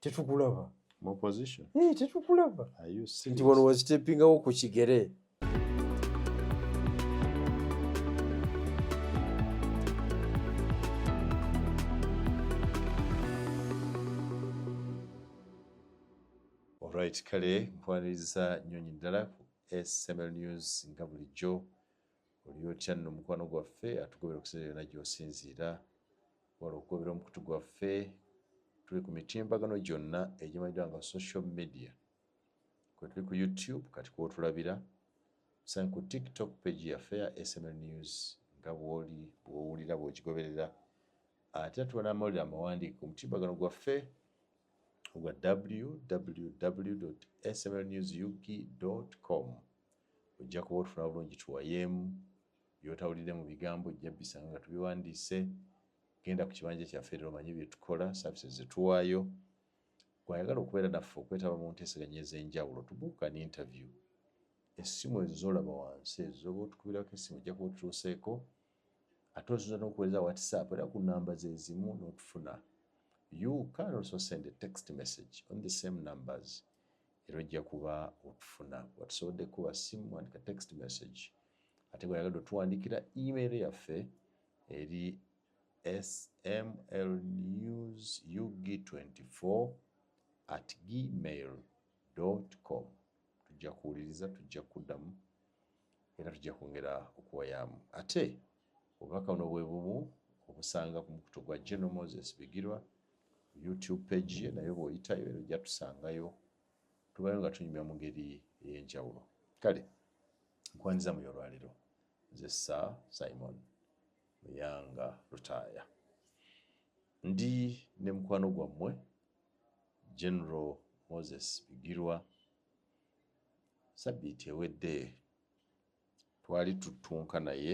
tetukulaba mu opposition eh tetukulaba are you serious nti wano wazitepingawo ku kigere Alright, kale nkwaniriza nyonyi ddala ku SML News nga bulijjo oli otya nno mukwano gwaffe atugobera okusinzira yonna gy'osinziira wala okugobera omukutu gwaffe tuli ku mitimbagano gyonna egimanyiddwa nga social media kwe tuli ku youtube kati kwotulabira sange ku tiktok page yaffe ya sml news nga bwoli bwowulira bwogigoberera ate natuba n'amawulire amawandiike ku mutimbagano gwaffe ogwa www sml news ug com Ojja kuba otufuna bulungi tuwayeemu. By'otawulidde mu bigambo ojja bbisanga nga tubiwandiise. Genda ku kibanja kyaffe leero omanye bye tukola, services ze tuwaayo. Gwe ayagala okubeera naffe okwetaba mu nteeseganya ez'enjawulo to book an interview, essimu ezo z'olaba wansi ezo z'oba otukubirako essimu ojja kuba otutuuseeko ate osobola n'okuweereza whatsapp era ku nnamba ze zimu n'otufuna. You can also send a text message on the same numbers. era ojja kuba otufuna watusobodde kuba simu wandika text message ate bweyagadde otuwandikira email yaffe eri smlnewsug24 at gmail com tujja kuwuliriza tujja kuddamu era tujja kwongera okuwayaamu ate Obubaka buno bwe bumu obusanga ku mukutu gwa General Moses Bigirwa ku YouTube page ye nayo bw'oyitayo era ojja tusangayo tubayo nga tunyumya mu ngeri ey'enjawulo kale nkwandiza muyo olwaleero nze sa Simon Muyanga Lutaaya ndi ne mukwano gwammwe General Moses Bigirwa sabbiiti ewedde twali tuttunka naye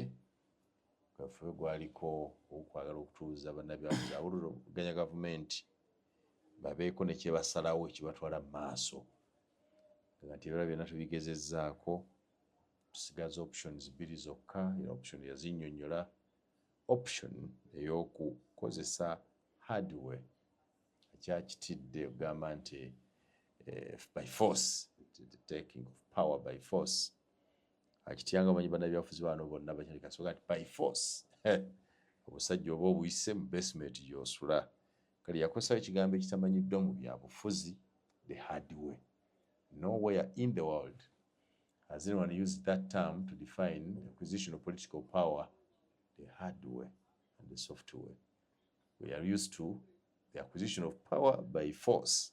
gaffe gwaliko okwagala okutuuza bannabyabuzi awuliroganya gavumenti babeeko nekyebasalawo ekibatwala mu maaso nga nti ebira byonna tubigezezzaako tusigaza options bbiri zokka era option yazinyonyola option eyokukozesa hardware akyakitidde okugamba nti eh, by force taking of power by force akityanga omanyi banabyafuzi bano bonna bakyalikasoka nti by force obusajja oba obuyise mu basement gyosula kale yakosawo ekigambo ekitamanyiddwa mu byabufuzi the hard way nowhere in the world has anyone used that term to define acquisition of political power the hard way and the soft way we are used to the acquisition of power by force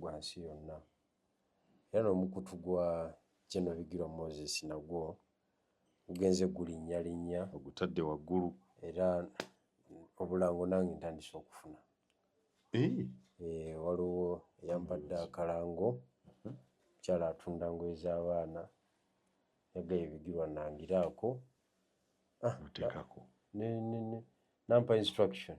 gwa nsi yonna, era n'omukutu gwa General Bigirwa Moses nagwo gugenze gulinnyalinnya. Ogutadde waggulu. Era obulango nange ntandise okufuna. Eh, waliwo eyampadde akalango mukyala atunda ngoye z'abaana yagaye ebigirwa nangiraako ah, nampa instruction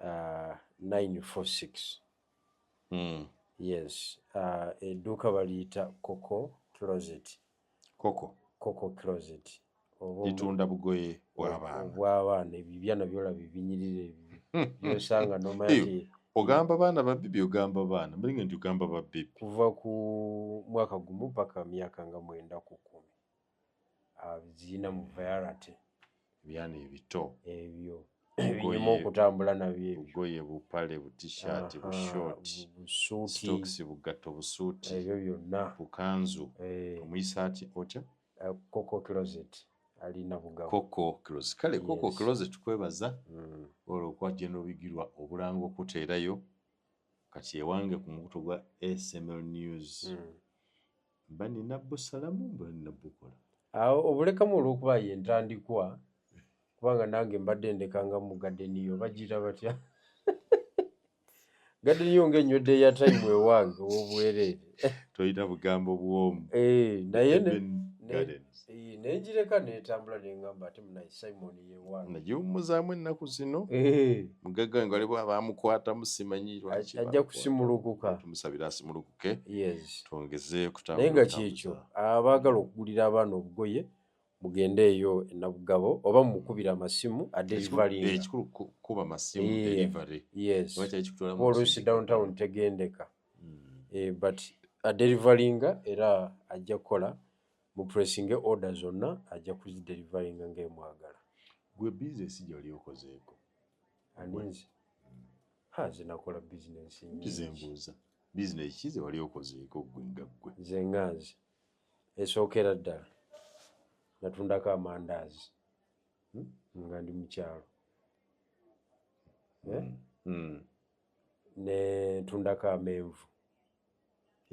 uh, 946 mm. yes uh, edduuka baliyita coco closet coco coco closet litunda bugoye bwabaana bwabaana ebibyana byola bibinyirira byosanga nomaye ogamba baana babibi ogamba baana mulinga nti ogamba babibi kuva ku mwaka gumu paka myaka nga mwenda kuku abiziyina mu vayarate ebyana ebito ebyo ebinyuma okutambula nabyo ebigoye bupale butishati bushoti busuuti bugatto busuuti ebyo byonna bukanzu eh. omuyisa ati otya eh, koko closet alina bugabo koko closet kale koko closet kwebaza mm. olwokuba gyenobigirwa obulanga okuteerayo kati ewange ku mukutu gwa sml news mm. Mba nina busalamu mba nina bukola. Awo obulekamu olwokuba ye ntandikwa kubanga nange mbadde ndekanga mu gadeni yo bagira batya gadeni yo nga enywedde eya tayimu ewange owobwereere tolina bugambo bwomu eh, naye eh, nengireka netambula nengamba ati munaye simon yewange nagiwumuzaamu ennaku zino eh. mugagga wange waliwo abamukwatamu simanyirwaki ajja kusimulukuka tumusabira asimulukuka naye nga kyekyo abaagala okugulira abaana obugoye mugende eyo enabugabo oba mumukubira amasimu adelivalioluusi eh, downtown tegendeka hmm. eh, but adelivalinga era ajja kukola mupressinge order zonna ajja kuzidelivalinga ngaemwagala gwe bizinesi gyali okozeeko aninze ha zinakola bizinesi nyingi Business ki ze wali okozeeko ggwe nga ggwe? Nze nga nze esookera ddala natundako amandaazi hmm? nga ndi mu kyalo eh? hmm. hmm. ne ntundako amenvu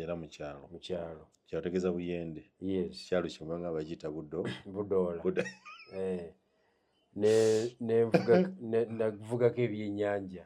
era mu kyalo mu kyalo kyategeeza buyende yes kyalo kimu nga bakiyita budo budoola buda eh. ne ne nvugako ebyenyanja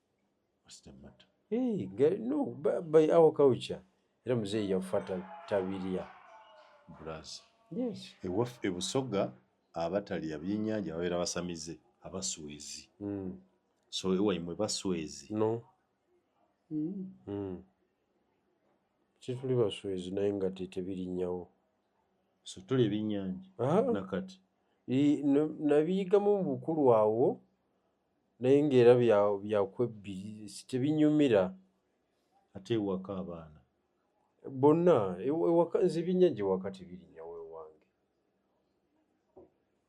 by our culture era muzeeyi yafa tabirya ewaffe ebusoga abatalya byenyanja babeera basamize abaswezi hmm. so ewaimwe baswezi no hmm. Hmm. tituli baswezi naye nga tetebirinyawo so tuli ebyenyanja ah. nakati nabiyigamu mubukulu awo naye ngaera byakwebbiri tebinyumira ate ewaka abaana bonna e, ewaka nze ebyennyanja ewaka tebirinyawo ewange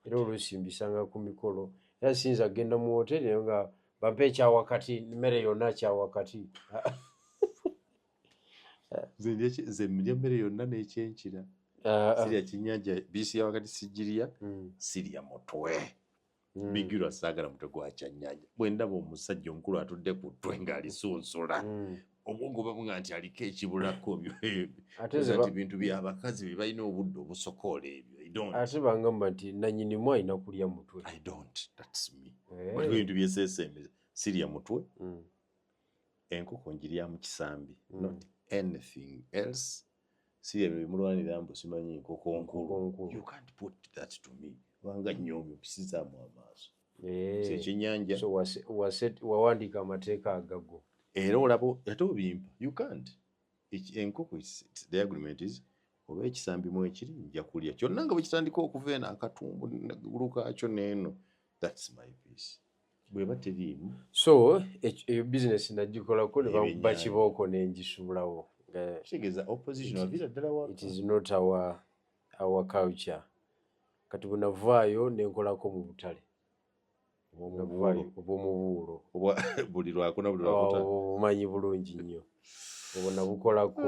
era oluusi mbisanga ku mikolo era siyinza kugenda mu woteri nayo nga bampa ekyawakati mmere yonna kyawakati nze mlya mmere yonna n'ekyenkira ah, ah. sirya kyenyanja bisi yawakati sigirya hmm. sirya mutwe Mm. bigirwa saagala mutwe gwa kyannyanja bwe ndaba omusajja omukulu atudde ku ttwe ng'alisunsula mm. obwongo babuga nti aliko ekibulako byonti bintu byabakazi bye balina obudde obusokoola ebyo ate bangamba nti nanyinimu alina kulya mutwe eh. ebintu byesesemeza sirya mutwe mm. enkoko njirya mu kisambi mm. not anything else si ebyo bimulwanira mbu simanyi nkoko nkulu you can't put that to me kubanga nyoomi opisizaamu amaaso eh. ekyenyanja wawandiika amateeka agago era olaba ate obimpa you can't enkoko the agreement is oba ekisambi mu ekiri nja kulya kyonna nga bwekitandika okuva eno akatumbu gulu kaakyo neeno thats my peace bweba teriimu so eyo bizinesi nagikolako ne bakuba kibooko ne ngisubulawo kitegeeza opposition avira ddala wa it is not our our culture kati bwe navaayo ne nkolako mu butale obwomubuulo buli lwakuna buli lwakuta obumanyi bulungi nnyo obwo nabukolako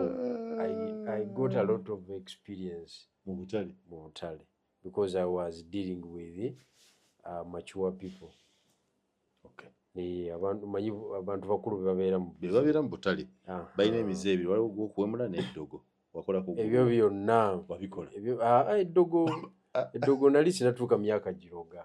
i got a lot of experience mu butale mu butale because I was dealing with uh, mature people okay. Eh, abantu manyi abantu bakulu bebabeera bebabeera mu butale balina emize ebiri waliwo gwokuwemula n'eddogo wakolako ebyo byonna wabikola ah, ah, eddogo ah. eddogo nali sinatuuka myaka giroga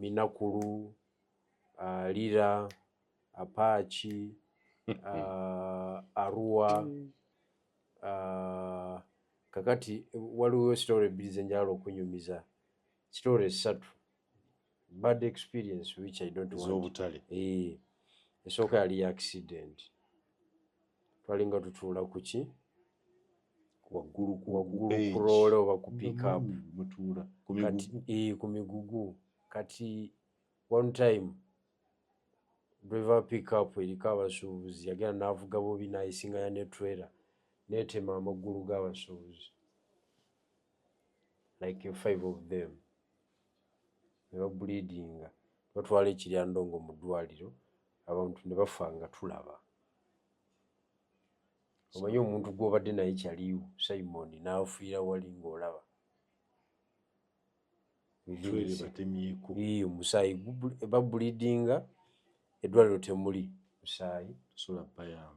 Minakulu, Lira, Apaaki, Arua. Mm. Kakati waliwo sitore ebbiri ze njala okunyumiza, sitore essatu bad experience which I don't want. Ez'obutale. Ee. Eh, esooka yali ya accident. twalinga tutuula kuki waggulu kurole oba ku pickup eh, ku migugu kati one time driver pickup eriko abasuubuzi yagenda n'avuga bobi nayisinganya ne trailer netema amaggulu g'abasuubuzi like five of them ne babuliidinga batwala ekiryandongo mu ddwaliro abantu ne bafa nga tulaba omanyi omuntu gw'obadde naye kyaliwo simoni n'afiira wali ng'olaba omusaayi babulidinga eddwaliro temuli musaayi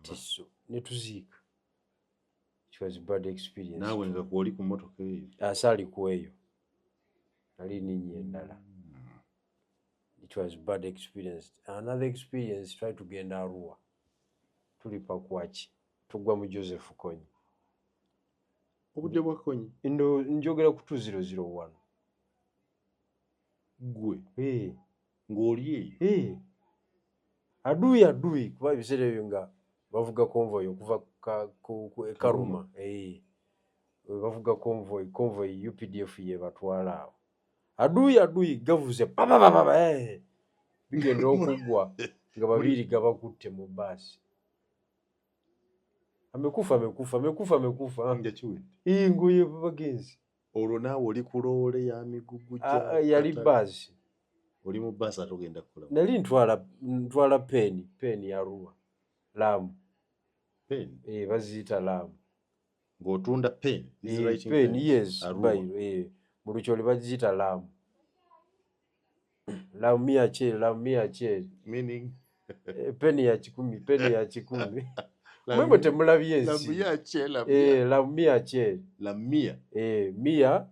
tiso ne tuziika naawe nga kwoli ku motoka eyo asaali ku eyo nali ninnya endala It was bad experience. Another experience, try to genda Arua. Tulipa kuwachi. Tugwa mu Joseph Konyi. Obude wa Konyi? Ndo njogera kutu 001. Gwe? Hey. Ngoli yeyo? Hey. Adui adui. Kwa bisere yo nga bavuga convoy okuva ka, ku, ku, e Karuma. Hey. Bavuga convoy, convoy UPDF ye batwala awo. aduyi aduyi gavuze babababa eh. bigenda okuggwa nga babiri gabakutte mu baasi amekufa amekufa amekufa amekufa ngoye bagenzi olwo naawe oli ku loole ya migugu yali baasi oli mu baasi ate ogenda kukola nali ntwala peeni peeni ya ruwa laamu peeni eh, baziyita laamu ng'otunda pen mulukyoli bagiyita lamu lamu mia cheri lamu mia cheri eh, peni ya kikumi peni ya kikumi mwemwe temulabye ensi lamu mia cheri mia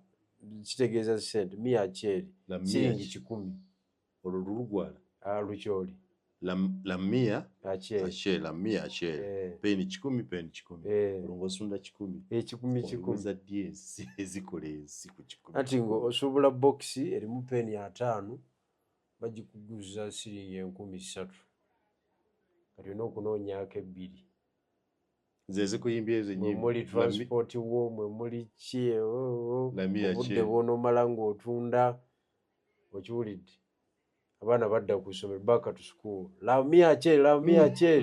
kitegeeza sente mia cheri siringi kikumi olwo lulugwala ah, lukyoli lamia ache lamia ache eh. peni kikumi peni kikumi eh. olwo ng'osunda kikumi ekikumi eh, kikumi za ddi ezikola ensi ku kikumi ati ng'osuubula bokisi erimu peni ataano bagikuguza siringi enkumi ssatu kati olina okunoonyaako ebbiri zezikuyimbya ezo nyimuli transport wo mwe muli ki oh, oh, oh. obudde bwonomala ng'otunda okiwulidde abaana badda ku ssomero back to school love me ache love me ache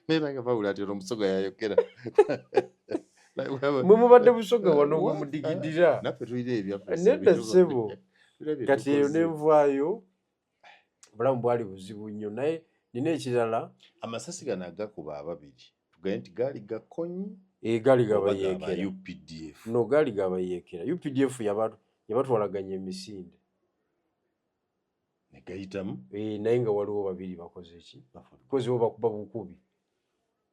naye nange bawula ati omusoga yayogera mwe mubadde busoga wano bwe mudigidira nedda ssebo kati eyo nenvaayo obulamu bwali buzibu nnyo naye nina ekirala amasasi gano agakuba ababiri tugaye nti gaali gakonyi eh, gaali gabayeekeraupdf no gaali gabayeekera updf yabatwalaganya emisinde negayitamu eh, naye nga waliwo babiri bakoze ki bakozewo bakuba bukubi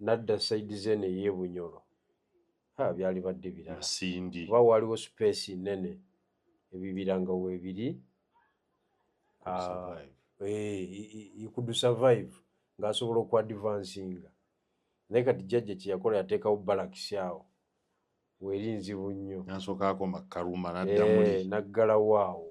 nadda saidi zeno eyebunyolo ha byali badde birasindi oba waliwo space nene ebibira nga webiri ah, eh, could survive ng'asobola okuadvansinga naye kati jjajja kyeyakola yateekawo balakisi awo weri nzibu nnyo nasoka akoma karuma naddamuli eh, naggalawo awo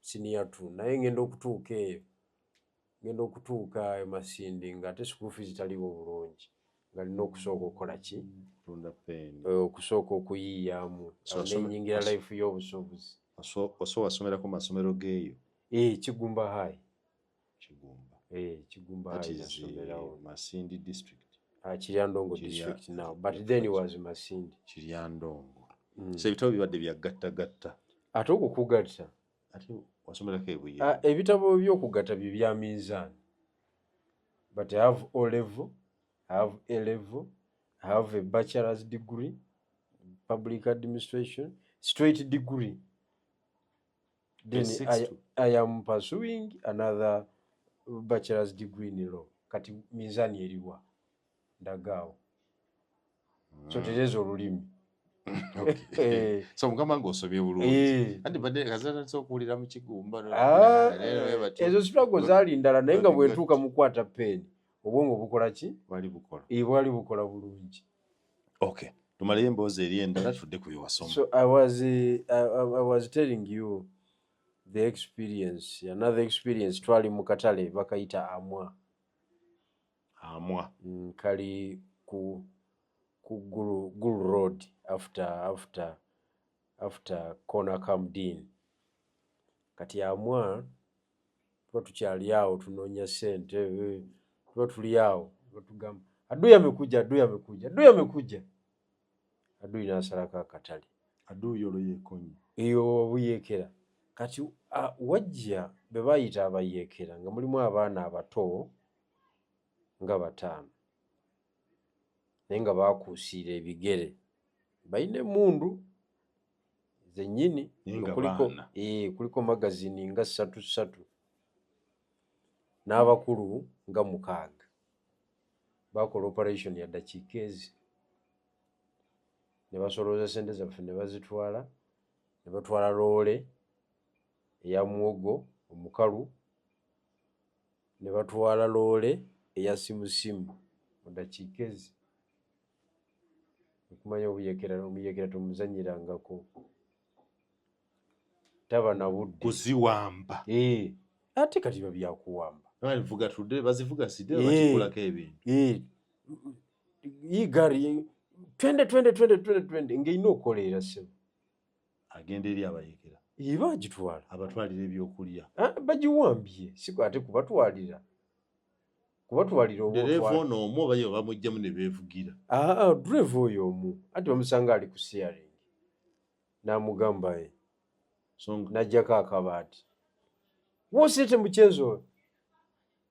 senior two naye ngenda okutuuka eyo ngenda okutuuka ayo masindi nga ate school fees taliwo bulungi nga lina okusooka okukola ki eh, okusooka okuyiiyamu nenyingira life y'obusuubuzi oso wasomerako masomero geeyo eh, kigumba hai Kigumba. Eh, Kigumba That is uh, Masindi district. Uh, Kiryandongo Kirya, district now, but yeah, then it was Masindi. Kiryandongo. Mm. So ebitabo bibadde bya gatta gatta. Ate okukugatta. Ate wasomerako ebuye. Uh, ebitabo by'okugatta bye bya minzaani. But I have O level, I have A level, I have a bachelor's degree, public administration, straight degree. then I, I am pursuing another bachelor's degree in law kati mizani eriwa ndagaawo mm. so tereza olulimi eh. so mukama nga osobye bulungi eh. anti badde kazanatisa okuwulira mu kigumba ah, ezo sitwago zaali ndala naye nga bwentuuka mukwata peeni obwongo bukola ki bwali bukola eh, bulungi okay tumaleyo emboozi eri endala tudde ku byewasoma so i was, eh, I, I was telling you the experience another experience twali mu katale bakayita amwa amwa mm, kali ku ku gulu, gulu road after after after corner camdin kati amwa tuba tukyali awo tunoonya sente eh, tuba tuli awo batugamba aduyi amekuja aduyi amekuja aduyi amekuja aduyi nasalako akatale aduyi olwo yekonye eyo obuyekera kati wajja be bayita abayekera nga mulimu abaana abato nga bataano naye nga bakuusiira ebigere balina emundu zenyini kuliko ee kuliko magazini nga satu satu n'abakulu nga mukaaga bakola operation ya dakiika ezi ne basolooza sente zaffe ne bazitwala ne batwala loole eya muwogo omukalu ne batwala loole eya simusimu mu dakiika ezi okumanya obuyekera omuyekera tomuzanyirangako taba na budde kuziwamba eh, ate kati biba byakuwamba bavuga tudde bazivuga side eh, bakikulako ebintu eh, igari twende twende twende twende twende ng'erina okukoleera sebo agenda eri abayekera iba agitwala abatwalira ebyokulya ah, bagiwambye siku ate kubatwalira kuba tubalira obudereeva ono omu oba ye bamuggyemu ne beevugira ah, ah, dureeva oyo omu anti bamusanga ali ku siyaring n'amugamba ye n'ajjako akabaati wosete mukyezi oyo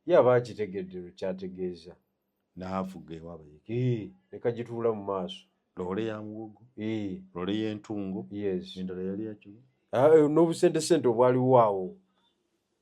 ye aba akitegedde lwe kyategeeza n'avuga ewaaba yeke ne kagituula mu maaso loole ya muwogo loole y'entungo endala yali yakyo ah, eh, n'obusentesente obwaliwo awo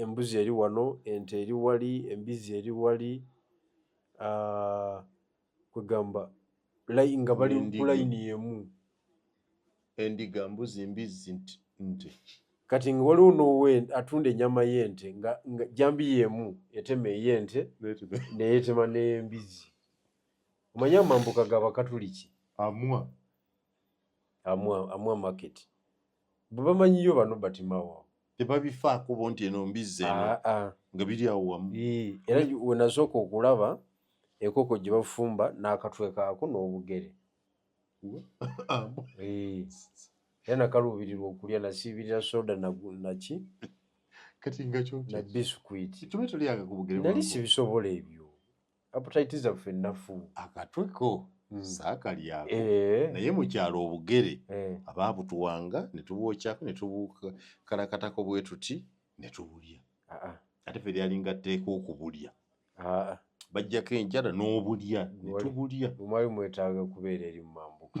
embuzi eri wano, ente eri wali, embizzi eri wali, ah, kwegamba nga bali kulayini yemu endiga mbuzi mbizzi nte kati nga waliwo nowe atunda enyama yente nga jambi yemu etema eyente neyetema nembizzi omanya amambuka gabakatuliki amwa amwa market bwebamanyiyo bano batimawo tebabifaako bo nti eno mbizzi eno ah, ah. nga biri awo wamu era wenasooka okulaba enkoko gye bafumba n'akatwe kaako n'obugere era nakaluubirirwa okulya nasiibirira soda naki kati nga na bisukwiti nali sibisobola ebyo aputaiti zaffe nnafu akatweko hmm. saakalyako eh. naye mukyalo obugere eh. abaabutuwanga ne tubwokyako ne tubukalakatako bwe tuti ne tubulya ah, ah. ate fe lyalinga tteeka okubulya ah, bajjako enjala n'obulya ne tubulya omwali mwetaaga kubeera eri mu mambuka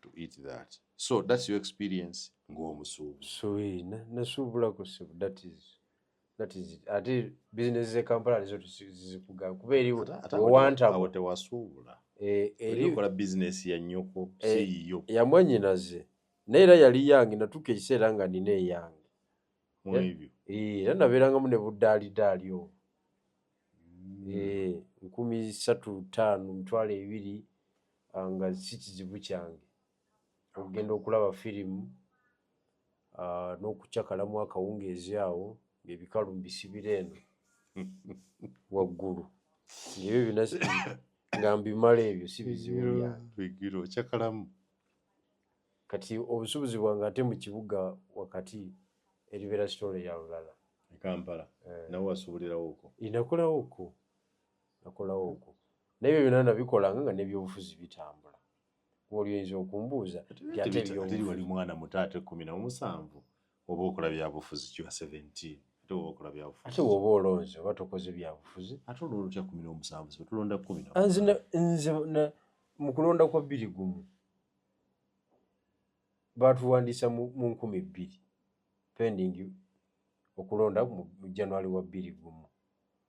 to eat that so that's your experience ng'omusuubuzi so eh, nasuubula ku sebo that is that is it ate business ze kampala nizo tuzikugaa kuba eri wewantabo tewasuubula eh, erikola business ya nyoko eh, siyiyo yamwanyinaze naye era yali yange natuuka ekiseera nga nina eyange era nabeerangamu ne buddaalidaali obo hmm. nkumi satu taano mitwalo ebiri ah, nga si kizibu kyange okugenda okulaba firimu ah, n'okucakalamu akawungeezi awo ng'ebikalu mbisibira eno waggulu ebyo byona nga mbimala ebyo si bizibu byange kati obusubuzi bwange ate mu kibuga wakati eribeera sitole ya lulala e kampala eh. nawe wasubulirawo oko inakulawo oko nakolawo ogwo naye byo byonna nabikolanga nga nebyobufuzi bitambula olyo oyinza okumbuuza teri wali mwana muto ate kumi namusanvu oba okola byabufuzi kiwa 17 ate oba okola byabufuzi ate woba olonze oba tokoze byabufuzi ate olonda otya kumi nomusanvu sibe tulonda kumi nze nze mu kulonda kwa bbiri gumu baatuwandiisa mu nkumi bbiri pending okulonda mu january wa bbiri gumu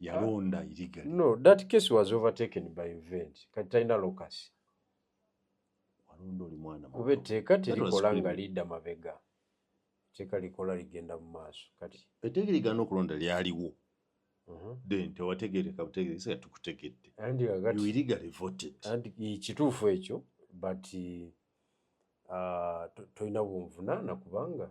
yalonda illegally no that case was overtaken by event kati talina locus walonda oli mwana kuba etteeka terikola nga lidda mabega etteeka likola ligenda mu maaso kati etteeka ligana okulonda lyaliwo uh-huh. then tewategereka butegeresa tukutegedde illegally voted kituufu ekyo but uh, tolina bunvunaana kubanga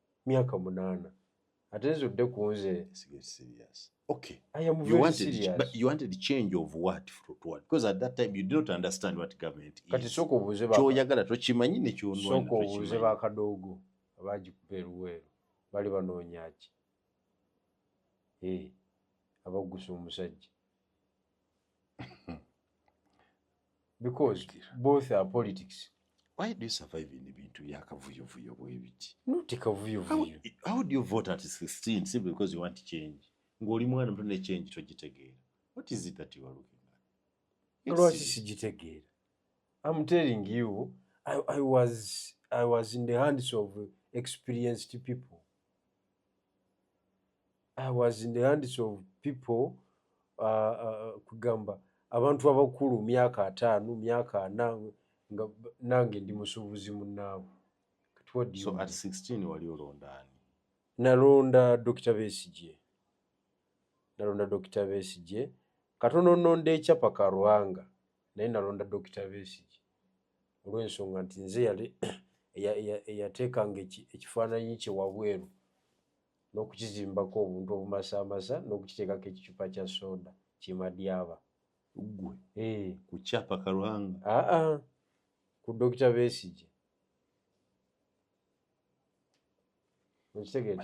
myaka munana ate nze odde kunze Okay. I am you wanted, serious. But you wanted change of what from what? Because at that time you did not understand what government is. Kati soko buze ba. Kyoyagala to chimanyi ne kyonwa. Soko buze ba kadogo abaji kuperuwe bali banonya ki. Eh. Hey, abagusa omusajja. because both are politics why do you survive in ebintu byakavuyovuyo bwebiti not kavuyovuyo how do you vote at 16 simply because you want change ng'oli mwana muto ne change togitegeera what is it that you are looking at lwaki sigitegeera i'm telling you I, i was i was in the hands of experienced people I was in the hands of people uh, uh, uh, kugamba abantu abakulu myaka ataano myaka ana nga nange ndi musuubuzi munnaabwe so at 16 wali olondaani nalonda dokita besigye nalonda dokita besigye katono nonda ekyapa karwanga naye nalonda dokita besigye olw'ensonga nti nze yali eyateekanga ekifaananyi kye wabweru n'okukizimbako obuntu obumasaamasa n'okukiteekako ekicupa kya soda kimadyaba gwe eh. ku kyapa kalwanga aa ah, ah. ku dokita besigye okitegeera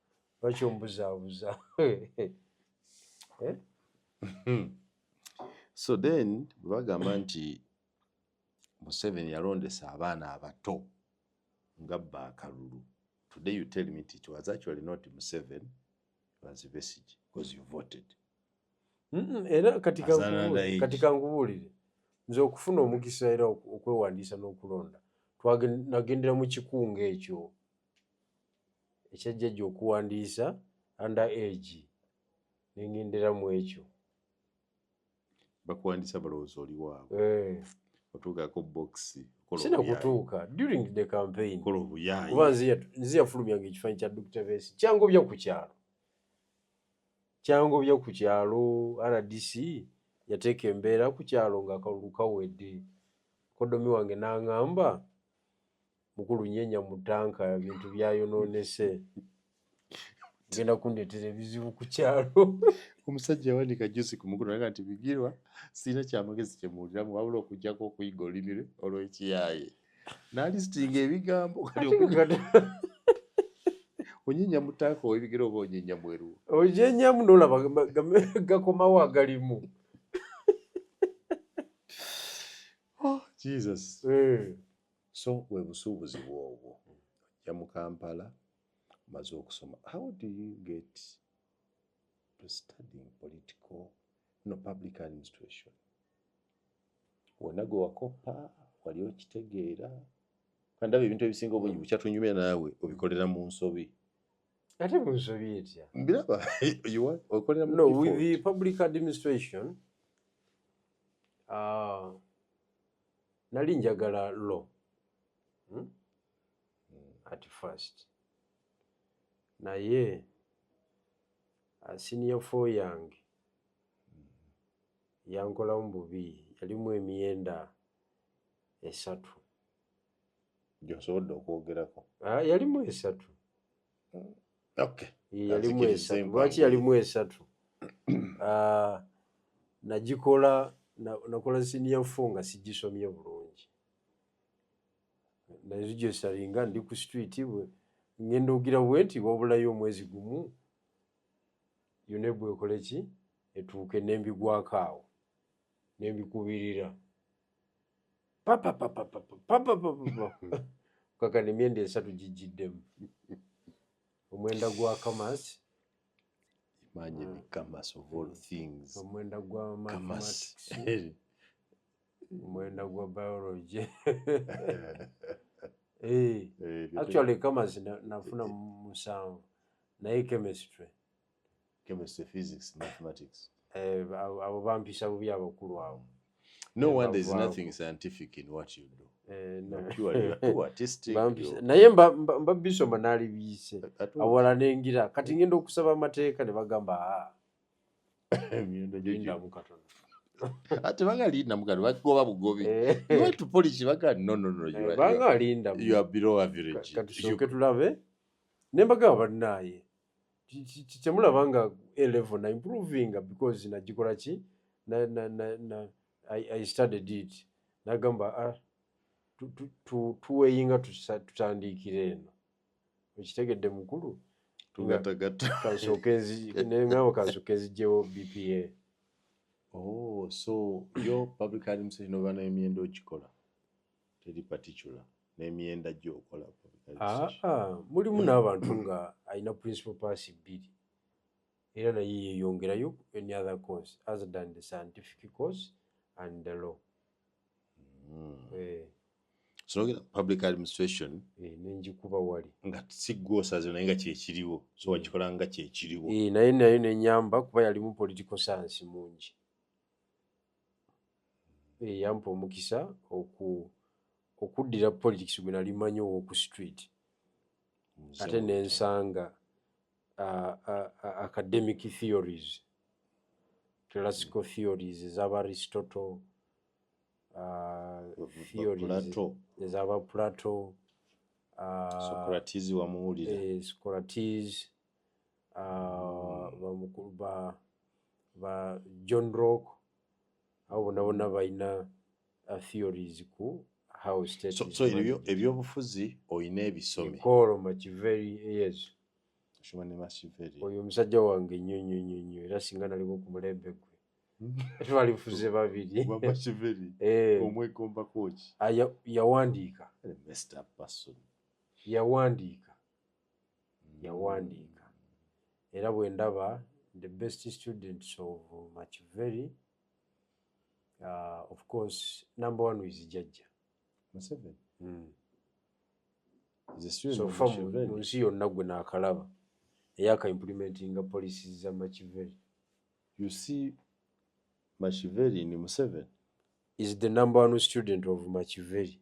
lwaki ombuzaabuza eh? so then bwebagamba nti museveni yalondesa abaana abato nga bba akalulu today you tell me it was actually not museven was vesige because you voted era kati kangubuulire nze okufuna omukisa era okwewandiisa n'okulonda nagendera mu kikunga ekyo ekyajjajja okuwandiisa under age nengendera mu ekyo bakuwandisa balowooza oli waabwe eh. otuukako bokisi sina kutuuka during the campaign kola obuyaayi kuba nze yafulumyanga ekifanyi kya dr vesi kyangobya ku kyalo kyangobya ku kyalo rdc yateeka embeera ku kyalo ngaakalulu kawedde kodomi wange nangamba mukulu nyenya mutanka ebintu byayononese genda kundetera ebizibu ku kyalo omusajja yawanika jusi ku mukulu naga nti bigirwa sirina kyamagezi kyemuwuliramu wabula okujjako okuyiga olulimi lwe olwekiyaaye nalisitinga ebigambo kati onyenya mutaaka owebigere oba onyenya mweru onyenyamu nolaba gakomawo agalimu oh, jesus eh. so we busuubuzi bwobwo ojja mu kampala omaze okusoma how do you get to studying political no public administration wonna gwe wakoppa wali okitegeera kandaba ebintu ebisinga obungi bukyatunyumira naawe obikolera mu nsobi ate mu nsobi etya mbiraba okolera no with the public administration uh, nali njagala lo hmm? at first naye uh, senior fo yange yankolamu bubi yalimu emyenda esatu gyosobodde okwogerako ah, yalimu esatu yalimu esatu lwaki yalimu esatu ah, nagikola nakola siniya fo nga sigisomye bulungi nazijesalinga ndi ku street bwe ngenda ogira bwe nti wabulayo omwezi gumu yone bwekoleki etuuke nembigwako awo nembikubirira kakano emyenda esatu gijjiddemu omwenda gwa kamas imagine ah. kamas of all things omwenda gwa mathematics omwenda gwa biology eh, eh, actually kamas nafuna musanvu naye chemistry chemistry physics mathematics eh, abo bampisha bubi abakulu abo no eh, wonder is nothing scientific in what you do eh, naye mbabisoma nali biyise awala nengira kati mm. ngenda okusaba amateeka ne bagamba ah. ate banga linda mugano bagoba bugobi to polish baga no no no you are, banga linda you are below average katusoke tulabe nembaga banaye kyemulaba nga a level na improving because nagikola ki na, na, na, na, I, I studied it nagamba ah, tuweyinga tu, tu, tu, tutandiikira eno okitegedde mukulu kansokenzinengawo kansoke nzigyewo bpa oh, so yo public administration oba nayo myenda okikola teri particular nemyenda gyo okola ah, ah, mulimu n'abantu nga alina principal pass bbiri era naye yeyongerayo any other course other than the scientific course and the law hmm. eh. sinogera public administration eh, nenjikuba wali nga sigwosaze naye nga kyekiriwo so eh. wakikola nga kyekiriwo naye nayo nenyamba kuba yalimu political science mungi eyampa omukisa oku okuddira politics gwe nali manyi ow'oku street ate ne nsanga academic theories classical mm. theories ezaba aristotle theories ezaba plato socrates wamuwulira eh, socrates mm. ba john rock abo bona bona balina uh, theories ku how state so, so ebyo ebyobufuzi oyina ebisome kolo makiveri yes shoma ne makiveri oyo omusajja wange nnyo nnyo nnyo nnyo era singa naliko ku mulembe gwe twali fuze babiri makiveri eh. omwegomba koki ah, yawandiika yawandiika yawandiika era bwe ndaba the best students of machiveri uh, of course number one is jajja museveni mm. sofa mu nsi yonna gwe naakalaba eyaka implementinga policies za machiveri you see machiveri ni museveni is the number one student of machiveri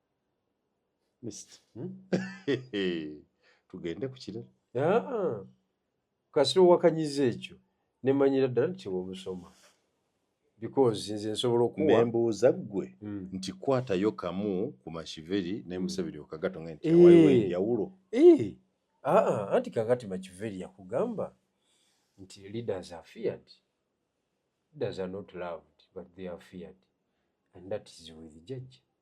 Hmm? tugende ku kirala ah. kasita owakanyiza ekyo nemanyira ddala nti kyewomusoma because nze nsobola okuwambuuza ggwe hmm. nti kwatayo kamu ku mashiveri nemuseveri hmm. okagato nga nti waliwo eh. enjawulo eh. ah, ah. anti kakati makiveri yakugamba nti leaders are feared leaders are not loved but they are feared and that is with judge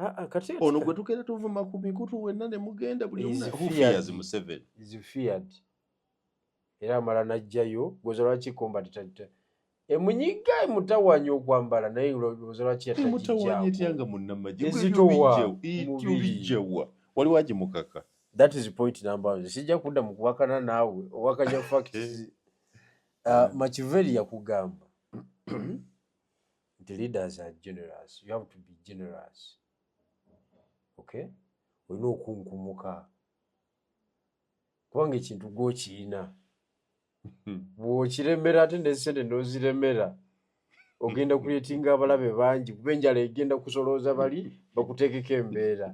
Ah, ah, ono gwe tugenda tuvuma ku mikutu wenna ne mugenda buli museveni era amala najjayo gwoza lwaki combat emunyiga emutawanya okwambala naye lwoza lwaki yatajijjaoyanga munnamagye ezitowaobijjawa waliwo agimukaka that is point number one sijja kudda mu kuwakana naawe owakanya facts uh, ah, makiveri yakugamba nti leaders are generous you have to be generous okay olina okunkumuka kubanga ekintu gwokiyina bwokiremera ate nesente noziremera ogenda kuyetinga abalabe bangi kuba enjala egenda kusolooza bali bakuteekeko embeera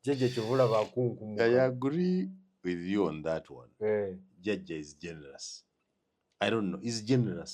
jajja kyovula bakunkumuka i agree with you on that one eh. jajja is generous i don't know is generous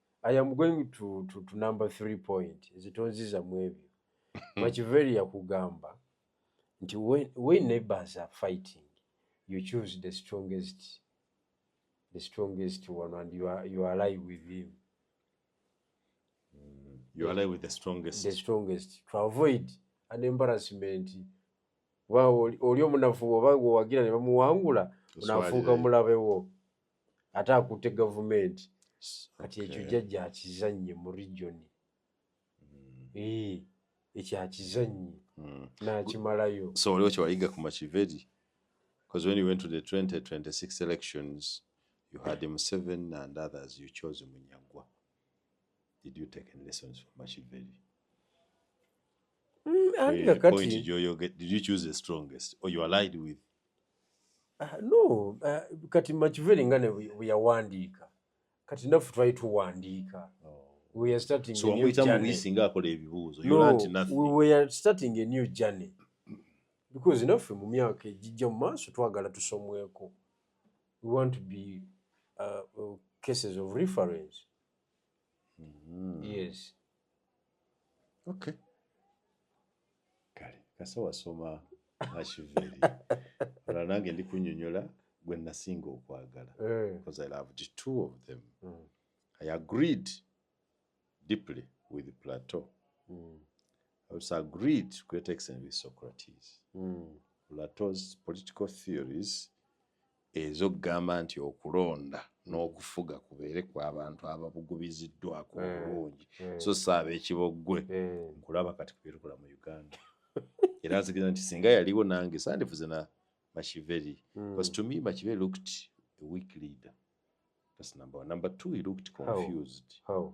I am going to, to, to number three point ezitonziza mu ebyo makiveri yakugamba nti when, when neighbors are fighting you choose the strongest the strongest one and you, are, you ally with him mm, you ally with the strongest the strongest to avoid an embarrassment oli omunafu oba gwewagira ne bamuwangula onafuuka mulabe wo ate akutte gavumenti kati ekyo jajja akizannye mu regioni hmm. ee eh, ekyo akizannye hmm. n'akimalayo so waliwo kyewayiga ku makiveri because when you went to the 2026 elections you had him seven and others you chose munyagwa did you take any lessons from makiveri mm, eh, point you did you choose the strongest or you allied with Ah, no ah, kati makiveri nga ne bwe yawandiika kati naffe twali tuwandiika we are starting a new journey. wamuyitamuisi nga akola ebibuuzo no, we are starting a new journey because naffe mu myaka egijja mu maaso twagala tusomweko we want to be uh, uh, cases of reference mm. yes okay kale kasa wasoma ashiveri olwa nange ndi kunyonyola gwe nasinga okwagala eh. because i loved two of them mm. i agreed deeply with plateau mm. i also agreed to great extent with socrates mm. plato's political theories ez'okugamba nti okulonda n'okufuga kubeere kwa bantu ababugubiziddwako eh, obulungi eh. so si ab'ekiboggwe eh. nkulaba kati kubyetukola mu uganda era nzikiriza nti singa yaliwo nange sandifuze na mashiveri hmm. bcause to me mashiveri looked a weak leader that's number one number two he looked confused How? How?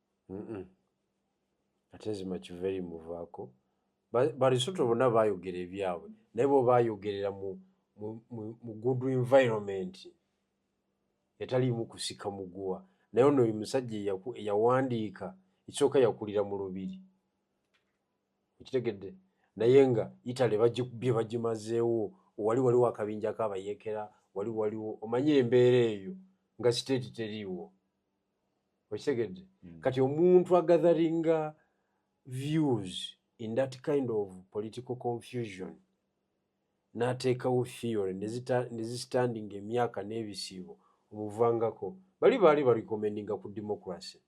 ate nzima kiveri muvaako barisoto bonna bayogera ebyabwe naye bo bayogerera mu good environment etaliimu kusika muguwa naye ono oyo musajja eyawandiika ekisooka yakulira mu lubiri okitegedde naye nga italy bye bagimazeewo wali waliwo akabinjako abayekera wali waliwo omanye embeera eyo nga siteeti teriiwo okitegedde mm. kati omuntu agatheringa views in that kind of political confusion nateekawo theory nezistandinga emyaka n'ebisiibo omuvangako bali baali balikomendinga ku democracy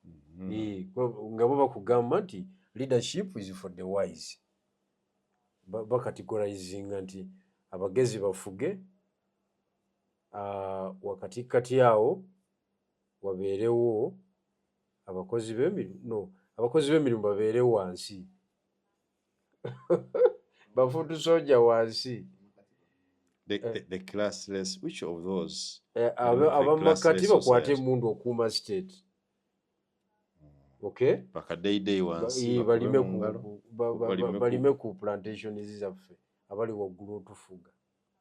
mm-hmm. eh, nga bo bakugamba nti leadership is for the wise bakategorizinga nti abagezi bafuge wakatikkati awo wabeerewo abakozi b'emirimu no abakozi b'emirimu babeere wansi bafuutu soja wansi eh. eh, abamakati bakwata emundu okuuma state balime ku plantations zaffe abali waggulu otufuga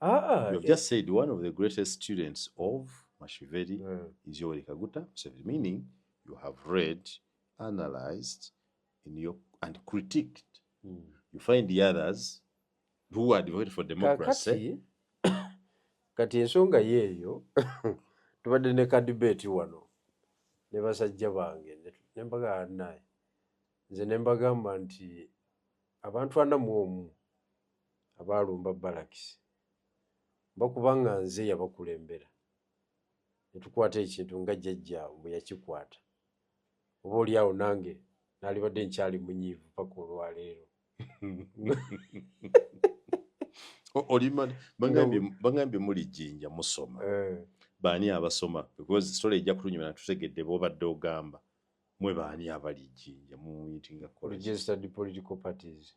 Ah, you have just said one of the greatest students of Mashiveri yeah. Hmm. is Yoweri Kaguta Museveni, meaning you have read, analyzed, in your, and critiqued. Mm. You find the others who are devoted for democracy. Kati ensonga yeeyo tubadde ne ka debate wano ne basajja bange ne mbagamba naye nze ne mbagamba nti abantu ana mu omu abaalumba balakisi bakuba nga nze yabakulembera ne tukwata ekintu nga jjajjaabwe bwe yakikwata oba oli awo nange naalibadde nkyali munyiivu paka olwaleero bangambye muli jjinja musoma eh. baani abasoma because story ejja kutunyuma natutegedde bobadde ogamba mwe baani abali jjinja muyitinga registered political parties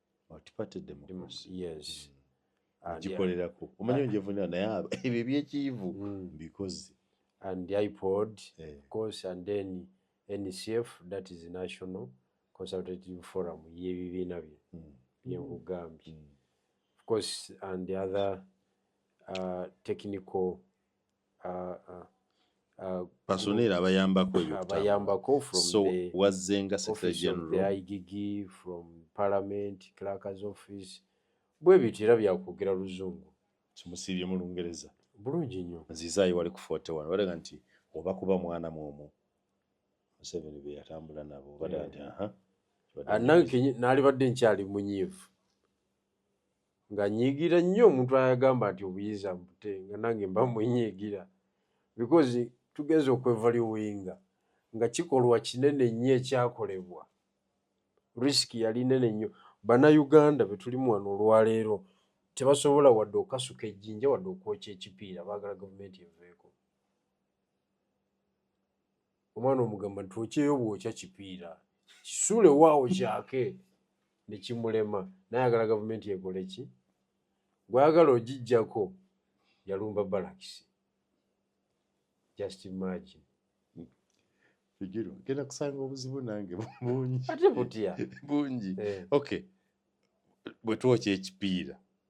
gikolerako mm. omanyi onjevunira naye ebyo ebyekiivu mm. mbikoze and ipod eh. of course and then ncf that is national consultative forum yebibiina bye mm. byenkugambye of course and the other uh, technical personel abayambako ebyokutambalayambako so wazzenga secretary general igg from parliament clerkers office bwe bityo era byakwogera luzungu kimusiibye mu lungereza bulungi nnyo nzizaayo wali ku 41 balaga nti oba kuba mwana mwomu museveni be yatambula nabo balaga nti aha ah, nalibadde nkyali munyiivu nga nyigira nnyo omuntu ayagamba nti obuyiza mbute nga nange mba mwenyigira because tugenza okwevaluwinga nga kikolwa kinene nnyo ekyakolebwa risk yali nene nnyo banauganda betulimu wano olwaleero tebasobola wadde okasuka ejjinja wadde okwokya ekipiira baagala gavumenti eveeko omwana omugamba nti okyeyo bwokya kipiira kisule waawo kyake nekimulema nayagala gavumenti ekoleki gwayagala ogijjako yalumba balakisi just imagine kigiro genda kusanga obuzibu nange bungi ate butya bungi eh. okay bwetwokya ekipiira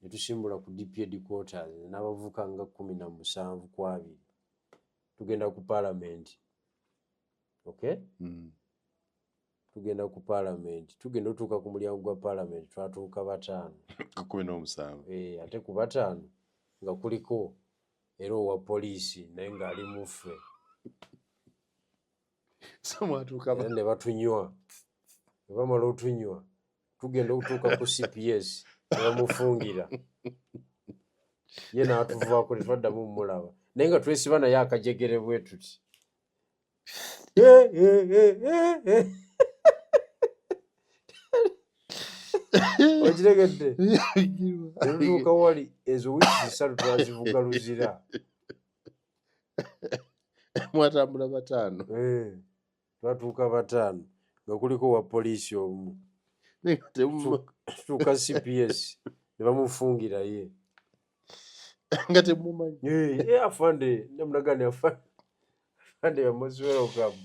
ne tusimbula ku DP headquarters n'abavubuka nga kkumi na musanvu ku abiri tugenda ku paalamenti okay mm. tugenda ku paalamenti tugenda otuuka ku mulyango gwa paalamenti twatuuka bataano kumi n'omusanvu eh, ate ku bataano nga kuliko era owa poliisi naye ng'ali muffe ne batunywa ne bamala otunywa tugenda okutuuka ku cps nebamufungira ye natuvaako tetwaddamu mumulaba naye nga twesiba naye akajegere bwe tuti okitegedde netutuuka wali ezo wiiki zisatu twazivuga luzira mwatambula bataano eh. twatuuka bataano nga kuliko wa poliisi omu tuuka cps ne bamufungira ye nga temumanyi eh, afande namulaga ni afande yamuziwera ogamu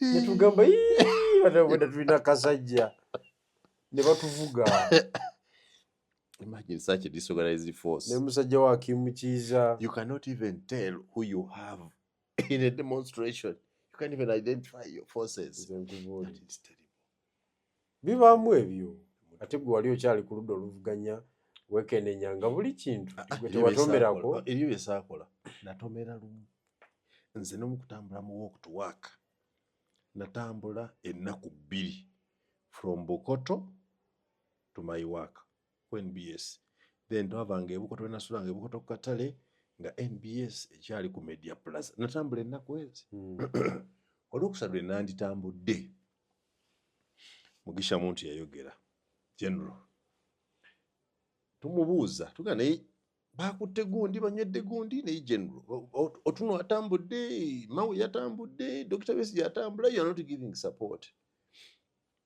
netugamba batabweda tulina kasajja ne batuvuga Imagine such a disorganized force. Ne musajja wa Kim Kiza. You cannot even tell who you have in a demonstration you can't even identify your forces bibaamu ebyo ate gwe wali okyali ku ludda oluvuganya wekenenya nga buli kintu ah, ah, gwe tewatomerako oh, ebyo byesaakola natomera lumu nze nomu kutambula mu walk to work natambula ennaku bbiri from bukoto to my work ku nbs then twava nga ebukoto wenasula nga ebukoto ku katale nga nbs ekyali ku media plaza natambula ennaku ezi hmm. olwokusatu enanditambudde mugisha muntu yayogera general tumubuuza tuga naye bakutte gundi banywedde gundi naye general otuno atambudde mawe yatambudde dokita besi yatambula you are not giving support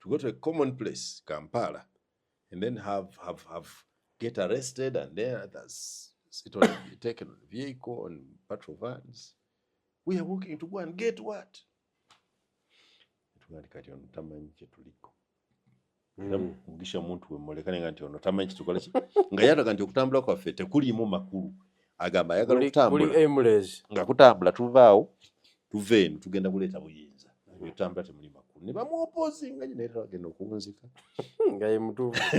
to go to a common place Kampala and then have have have get arrested and then others sit on taken on vehicle on patrol vans we are walking to go and get what tugandi kati ono tamanyi kyetuliko era hmm. mugisha muntu wemulekane nga nti ono tamanyi kitukola nga yataga nti okutambula kwaffe tekuliimu makulu agamba ayagala okutambulanga kutambula tuvaawo tuva eno tugenda kuleeta buyinza otambula temuli makulu ne bamuopozinga nyo naye agenda okunzika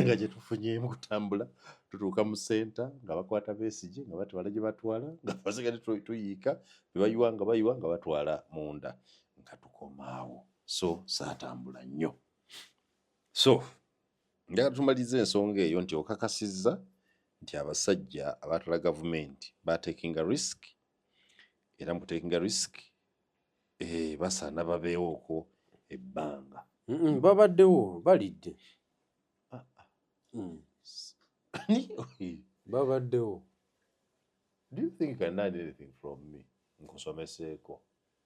nga gyetufunyemu kutambula tutuuka mu senta nga bakwata besigi nga batwala gye batwala nga basigade tuyiika bebayiwa nga bayiwa nga batwala munda nga tukomaawo so saatambula nnyo so njagala tumaliriza ensonga eyo nti okakasizza nti abasajja abatala gavumenti batekinga risk era mu kutekinga risk eh, basaana babeewoko ebbanga babaddewo balidde ah, ah. Mm. babaddewo do you think I need anything from me nkusomeseeko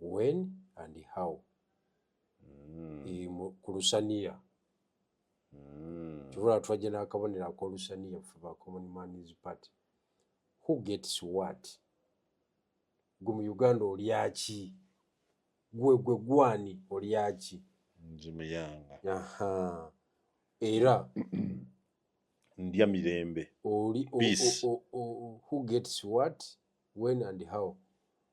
when and how mm. e, ku lusaniya mm. kibula twajja n'akabonero akolusaniya fe ba common mans party who gets what gwe mu uganda olyaki gwe gwe gwani olyaki nzimuyanga aha era ndya mirembe oli who gets what when and how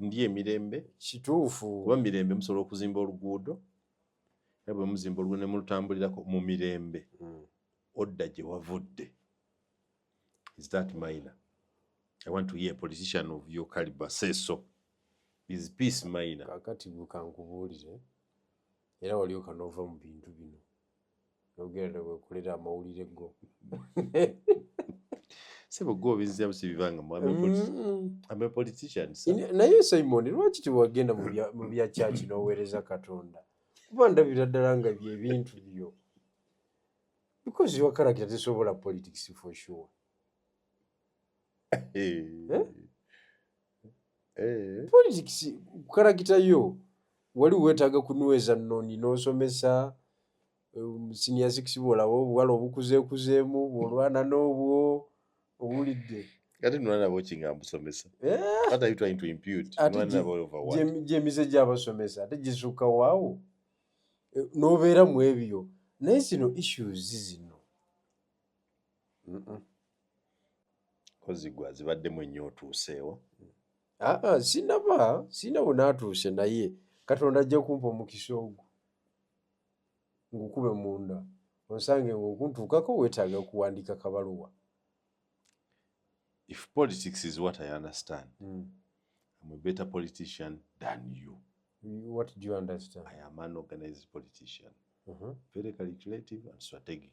ndiyo emirembe kituufu kuba mirembe musobola okuzimba oluguudo era bwe muzimba oluguudo ne mulutambulirako mu mirembe hmm. odda gye wavudde is that minor i want to hear a politician of your caliber say so is peace minor kakati bukankubuulire era walioka nova mu bintu bino yogera newekulira amawulire go sebo gwe obizzamu sibibanga naye simon lwaki tewagenda mu bya kyaki n'oweereza katonda kuba ndabira ddala nga byebintu byo because your character tesobola politics for sure eh? Eh. politics kukalakita yo wali wetaaga kunyweza nnoni n'osomesa um, senior six bwolaba obuwala obukuzeekuzeemu bwolwana n'obwo owulidde ate nolaba okinga mbusomesa gyemize gyabasomesa ate gisukka waawo eh, n'obeera mu ebyo naye zino issues zino kozi gwe azibaddemu ennyo otuuseewo aa ah, ah, sinaba sinaba naatuuse naye katonda ajja kumpa omukisa ogwo ngukube munda onsange ngaokuntuukako wetaaga okuwandiika kabaluwa if politics is what i understand mm. I'm a better politician than you what do you understand i am an organized politician uh mm-hmm. -huh. very calculative and strategic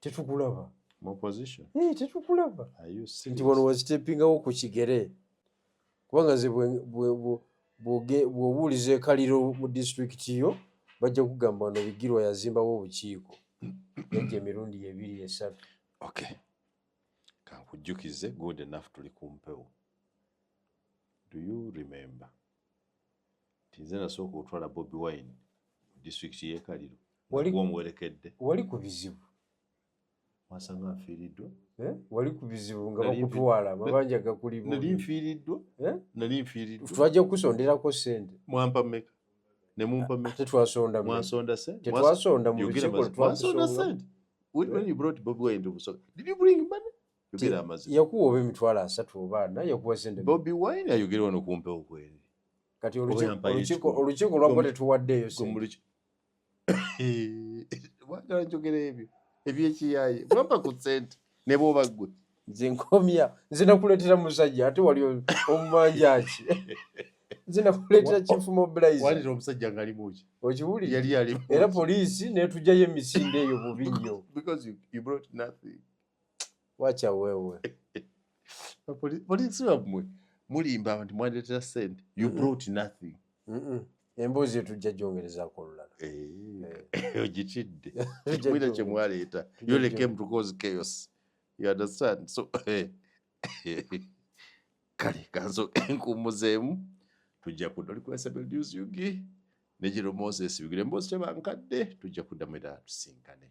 tetukulaba eh, tetukulaba nti wano wazitepingawo ku kigere kubanga ze bwobuuliza ekaliro mu disitulikiti yo bajja kugamba wano bigirwa yazimbawo obukiiko egyo emirundi ebiri esatu okay kankujjukize good enough tuli kumpewo do you remember nti nze nasooka otwala bobi wine mu disitulikiti yekaliro omuwerekedde wali ku bizibu wasanga nfiiriddwa eh? wali ku bizibu nga bakutwala amabanja gakulimu nali nfiiriddwa eh? nali nfiiriddwa twajja kukusonderako sente mwampa meka ne mumpa meka tetwasonda mwasonda sente tetwasonda mu lukiiko lwetwasonda sente when you brought bobi wine to busoga did you bring money yogera amazima yakuwa oba emitwalo asatu oba ana yakuwa sente bobi wine ayogere wano kumpewo kweri kati olukiiko lwakuba tetuwaddeeyo wagala njogera ebyo ebyekiyaye bwamba ku sente ne bwoba ggwe nze nkomya nze nakuleetera musajja ate wali omumanjaki nze nakuleetera kinfuma bulaizalira omusajja ngaali muki okiwuli yali ali era poliisi netugjayo emisinde eyo bubi nnyo wacha wewe polisi wamwe mulimba nti mwandeetera sente you brought nothing emboozi eyo tujja gyongerezako olulala eh, eh. ogitidde kimwira kye mwaleeta you only came to cause chaos you understand so eh, kale kanso enkuumuzeemu tujja kudda olikulasabeldiusyugi ne giro moses bigire emboozi tebankadde tujja kuddamu era tusinkane